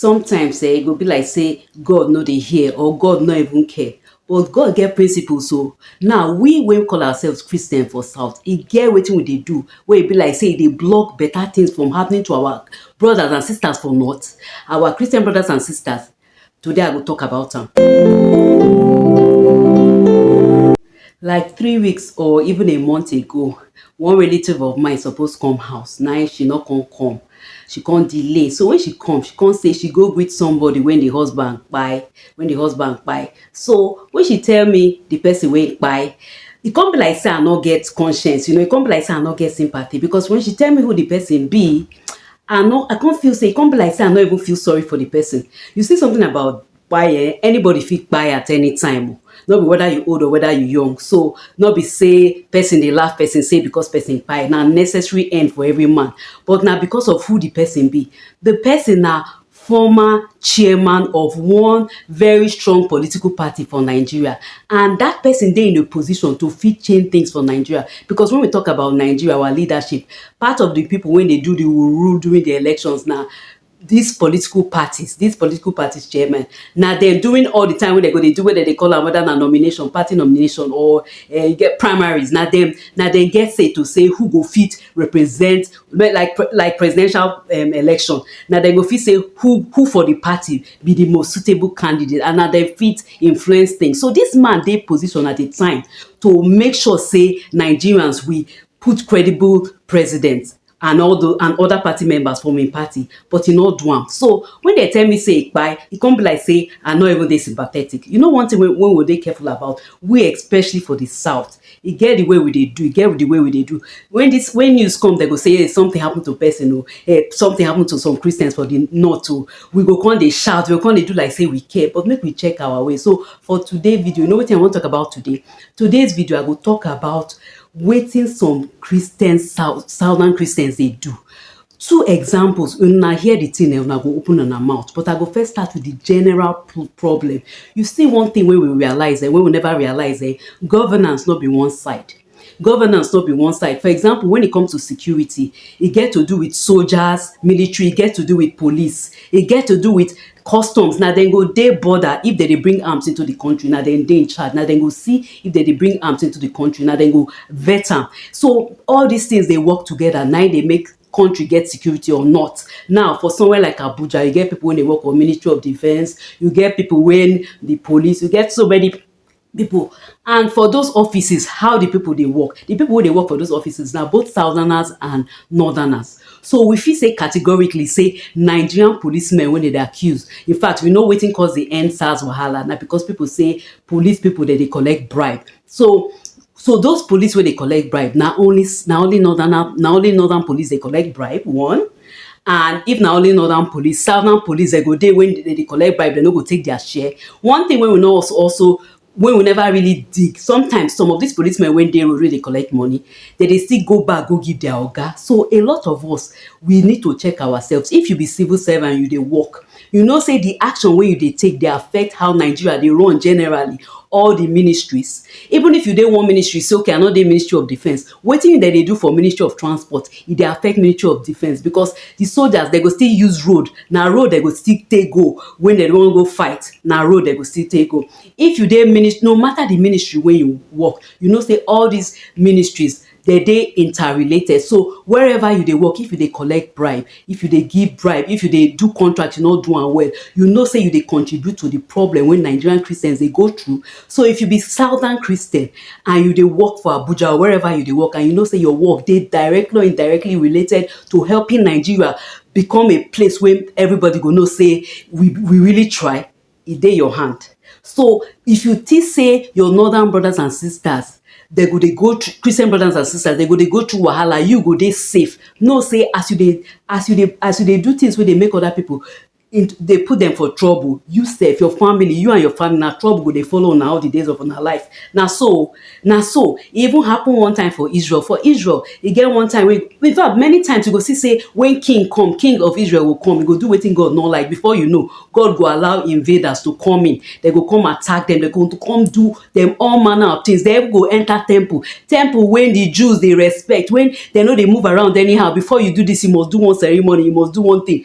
Sometimes eh, e go be like say God no dey hear or God no even care. But God get principles so oh. now we wey call ourselves Christian for South, e get wetin we dey do wey e be like say e dey block better things from happening to our brothers and sisters for North, our Christian brothers and sisters. Today I go talk about am. Like three weeks or even a month ago, one relative of mine suppose come house, now she no come come. She come delay, so when she come, she come say she go greet somebody when the husband kpai, when the husband kpai. So when she tell me the person wey kpai, e come be like say I no get conscience, you know, e come be like say I no get sympathy because when she tell me who the person be, I no, I come feel say e come be like say I no even feel sorry for the person. You see something about kpai eh, anybody fit kpai at any time o. No be whether you old or whether you young. So, no be say person dey laugh person say because person kpai, na necessary end for every man. But na because of who the person be. The person na former chairman of one very strong political party for Nigeria and that person dey in a position to fit change things for Nigeria because when we talk about Nigeria, our leadership, part of the people wey dey do the rule during the elections na dis political parties, dis political parties chairman, na dem during all the time wey dem go dey do wey dem dey call am whether na nomination, party nomination or eh, you get primaries, na dem, na dem get say to say who go fit represent me like pre like presidential um election, na dem go fit say who who for the party be the most suitable candidate and na dem fit influence things. So dis man dey position at a time to make sure say Nigerians we put credible president and all the and other party members from im party but e no do am so when dem tell me say e kpai e come be like say i no even dey sympathetic you know one thing wey wey we dey careful about we especially for the south e get the way we dey do e get the way we dey do when this when news come dem go say hey, something happen to person o hey, something happen to some christians for the north o we go come dey shout we go come dey do like say we care but make we check our way so for today video you know wetin i wan talk about today today's video i go talk about wetin some Christians, southern Christians dey do. Two examples, una hear the thing, una go open una mouth, but I go first start with the general problem. You see one thing wey we realize, eh, wey we never realize, eh, governance no be one side. Governance no be one side. For example, when it comes to security, e get to do with soldiers, military, e get to do with police, e get to do with Customs, na dem go dey border if dem dey bring arms into the country, na dem dey in charge, na dem go see if dem dey bring arms into the country, na dem go vet am. So, all these things dey work together, na im dey make country get security or not. Now, for somewhere like Abuja, you get people wey dey work for ministry of defence, you get people wey be police, you get so many pipu and for those offices how the pipu dey work, the pipu wey dey work for those offices na both southerners and northerners so we fit say categorically say Nigerian police men wey dem dey accuse in fact we know wetin cause the end sars wahala na because pipu say police pipu dem dey collect bribe so so those police wey dey collect bribe na only na only northern na only northern police dey collect bribe one. and if na only northern police, southern police dem go dey when dem dey collect bribe dem no go take their share one thing wey we no also also wey we never really dig sometimes some of these police men wey dey road wey dey collect money dem dey still go back go give their oga so a lot of us we need to check ourselves if you be civil servant you dey work you know sey the action wey you dey take dey affect how Nigeria dey run generally all the ministries even if you dey one ministry sey okay i no dey ministry of defence Wetin dem dey do for ministry of transport e dey affect ministry of defence because di soldiers dem go still use road na road dem go still take go wen dem wan go fight na road dem go still take go if you dey minis no matter di ministry wey you work you know say all dis ministries dem dey inter related so wherever you dey work if you dey collect bribe If you dey give bribe, if you dey do contract you no do am well, you know say you dey contribute to the problem wey Nigerian Christians dey go through. So if you be southern Christian and you dey work for Abuja or wherever you dey work and you know say your work dey directly or indirectly related to helping Nigeria become a place wey everybody go know say we we really try, e dey your hand so if you think say your northern brothers and sisters dem go dey go through Christian brothers and sisters dem go dey go through wahala you go dey safe know say as you dey as you dey as you dey do things wey dey make other people in dey put dem for trouble you sef your family you and your family na trouble go dey follow una all the days of una life na so Na so, e even happen one time for Israel. For Israel, e get one time wey, in fact, many times you go see sey when king come, king of Israel go come, e go do wetin God no like. Before you know, God go allow invaders to come in. They go come attack dem, they go come do dem all manner of things. They even go enter temple. Temple wey the Jews dey respect, wey they no dey move around anyhow. Before you do dis, you must do one ceremony, you must do one thing.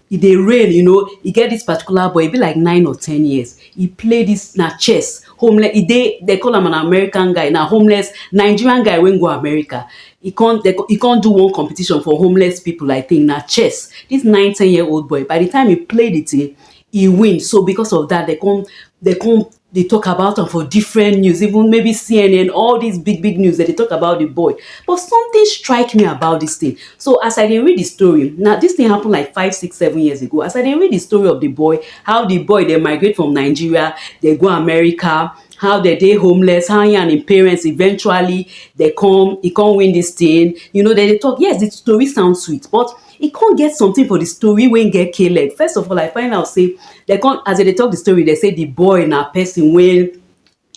e dey reign you know, e get dis particular boy, e be like nine or ten years, e play dis na chess, homeless, e dey dem call am an American guy, na homeless, Nigerian guy wey go America, e con dem con e con do one competition for homeless pipu I think, na chess, dis nine ten year old boy, by di time e play di tin, e win, so because of dat dem con dem con dey talk about am for different news, even maybe CNN, all these big big news, dem dey talk about the boy. But something strike me about this thing. So as I dey read the story, now this thing happen like five, six, seven years ago. As I dey read the story of the boy, how the boy dey migrate from Nigeria, dey go America, how dem dey homeless, how he and im parents eventually dey come, he come win this thing. You know, dem dey talk, yes, the story sound sweet, but e con get something for the story wey get K leg. First of all, I find out say dem con as dem dey talk the story, dem say the boy na person wey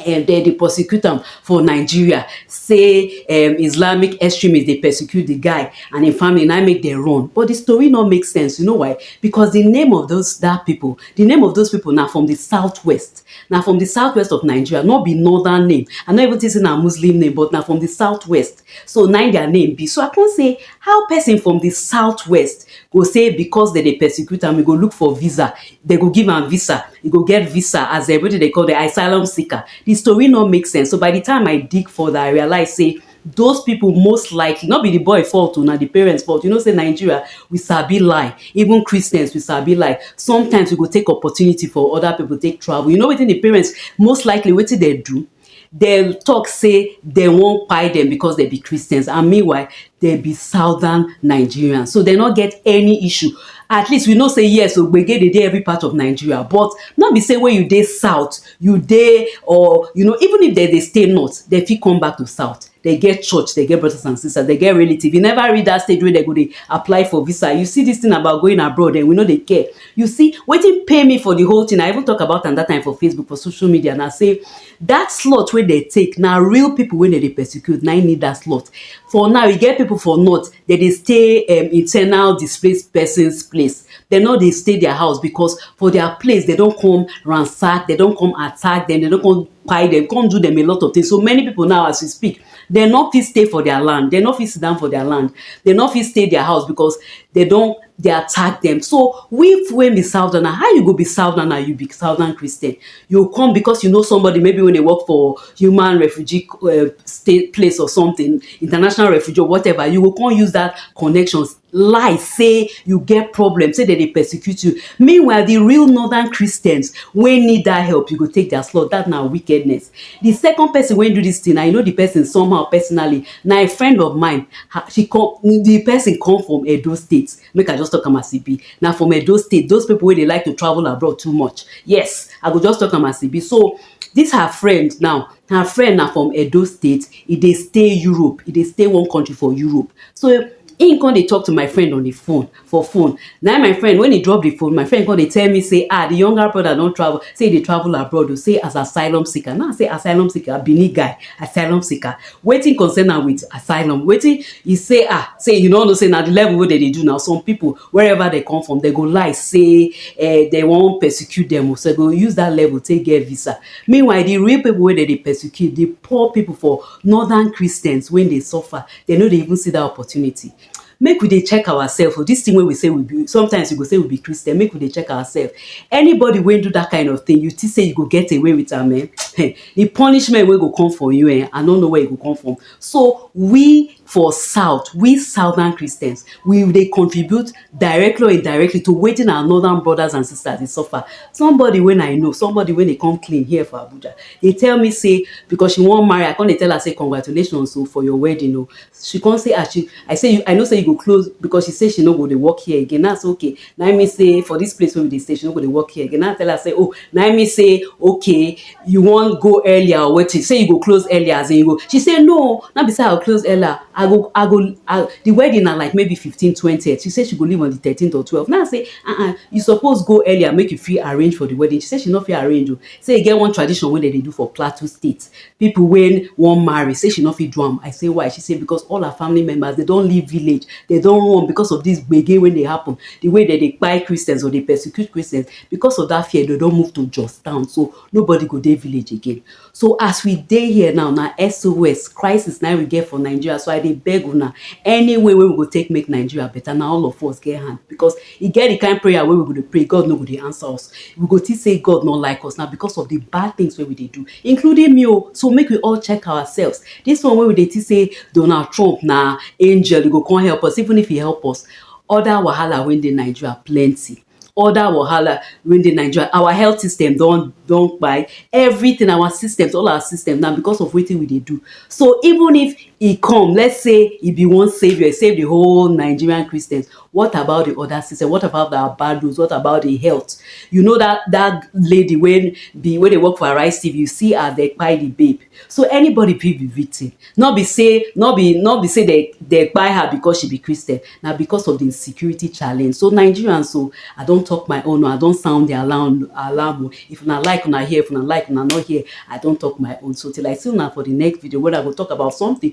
um dem dey prosecute am for Nigeria say um Islamic extremist dey persecute the guy and im family na im make dem run. But the story no make sense. You know why? Because the name of those that people, the name of those people na from the south west. Na from the south west of Nigeria, no be northern name. I no even think say na Muslim name but na from the south west. so na im their name be. So I come say how person from the south west go say because dem dey persecute am, e go look for visa, dem go give am visa, e go get visa as um wetin dem dey call dem asylum seeker. The story no make sense. So by the time I dig further, I realize sey those people most likely, no be the boy fault oh, na the parents fault. You know sey Nigeria, we sabi lie. Even Christians, we sabi lie. Sometimes we go take opportunity for other people take travel. You know wetin the parents most likely wetin dem do? dem tok say dem wan kpai dem becos dem be Christians and meanwhile dem be southern Nigerians so dem no get any issue at least we know say yes o gbege dey dey every part of Nigeria but no be say wen you dey south you dey or you know even if dem dey stay north dem fit come back to south dem get church, dem get brothers and sisters, dem get relative, you never reach dat stage wey dem go dey apply for visa, you see dis thing about going abroad um we no dey care, you see wetin pain me for di whole thing, I even talk about am dat time for Facebook for social media na sey dat slot wey dem take na real people wey dem dey persecute na im need dat slot, for now e get people for north dem dey stay um internal displaced persons place, dem no dey stay their house because for their place dem don come ransack, dem don come attack dem, dem don come kpai dem, come do dem a lot of things. So many people now as we speak, dem no fit stay for their land, dem no fit sit down for their land, dem no fit stay their house because dem don dey attack dem. So we wey be Southerner, how you go be Southerner, you be Southern Christian, you come because you know somebody maybe wey dey work for human refugee um state place or something, international refugee or whatever, you go come use that connections lie say you get problem say dem dey persecute you meanwhile the real northern christians wey need that help you go take their slot that na wickedness the second person wey do this thing i know the person somehow personally na a friend of mine she come the person come from edo state make i just talk am as e be na from edo state those people wey dey like to travel abroad too much yes i go just talk am as e be so this her friend now her friend na from Edo state, e dey stay Europe, e dey stay one country for Europe. So, im come dey talk to my friend on the phone, for phone. Na im my friend, when he drop the phone, my friend come dey tell me say, ah, the younger brother don travel, say e dey travel abroad o, say as asylum seeker. Na im I say asylum seeker, Benin guy, asylum seeker. Wetin concern am with asylum? Wetin he say, ah, say he no know say na the level wey dem dey do now, some people wherever dem come from, dem go lie sey um dem wan persecute dem o, so dem go use dat level take get visa. Meanwhile, the real people wey dem dey persecute, the poor people for northern Christians wey dey suffer, dem no dey even see dat opportunity. Make we dey check ourselves o, dis thing wey we say we be, sometimes you go say we be Christian, make we dey check ourselves. Anybody wey do dat kind of thing, you think sey you go get away with am um? um the punishment wey go come for you um, I no know where e go come from. So, we For south, we southern Christians, we dey contribute directly or indirectly to wetin our northern brothers and sisters dey suffer. Somebody when I know, somebody when dey come clean here for Abuja, dey tell me say because she wan marry, I come dey tell her say congratulations o for your wedding o. She come say as she, I say I know say you go close because she say she no go dey work here again, na so okay. na im mean say for this place wey we dey stay she no go dey work here again na tell her say oh na im mean say okay you wan go earlier or wetin say you go close earlier as in you go she say no na be say i go close earlier i go i go I, the wedding na like maybe fifteen twentieth she say she go leave on the thirteenth or twelve na say ah uh ah -uh, you suppose go earlier make you fit arrange for the wedding she say she no fit arrange o oh. say e get one tradition wey dem dey do for plateau state People wey wan marry say she no fit do am, I say why? She say because all her family members dem don leave village, dem don run because of this gbege wey dey happen, the way dem dey kpai Christians or dey persecute Christians, because of that fear dem don move to Jos town, so nobody go dey village again. So as we dey here now, na SOS, crisis, na im we get for Nigeria, so I dey beg una, any way wey we go take make Nigeria better, na all of us get hand because E get the kind prayer wey we go dey pray, God no go dey answer us. We go think say God no like us, na because of the bad things wey we dey do, including me o. So make we all check ourselves. This one wey we dey think say Donald Trump na angel, e go come help us, even if e help us, other wahala wey dey Nigeria plenty. Other wahala wey dey Nigeria, our health system don don kpai. Everything, our systems, all our systems, na because of wetin we dey do. So even if e come, let's say e be one saviour, e save the whole Nigerian Christians, what about the other system what about the abados what about the health you know that that lady when the when they work for arise tv you see her they buy the babe so anybody fit be victim not be say not be not be say they they buy her because she be christian now because of the security challenge so nigerians so i don't talk my own i don't sound the alarm alarm if una like una hear if una like una not hear i don't talk my own so till i see una for the next video where i will talk about something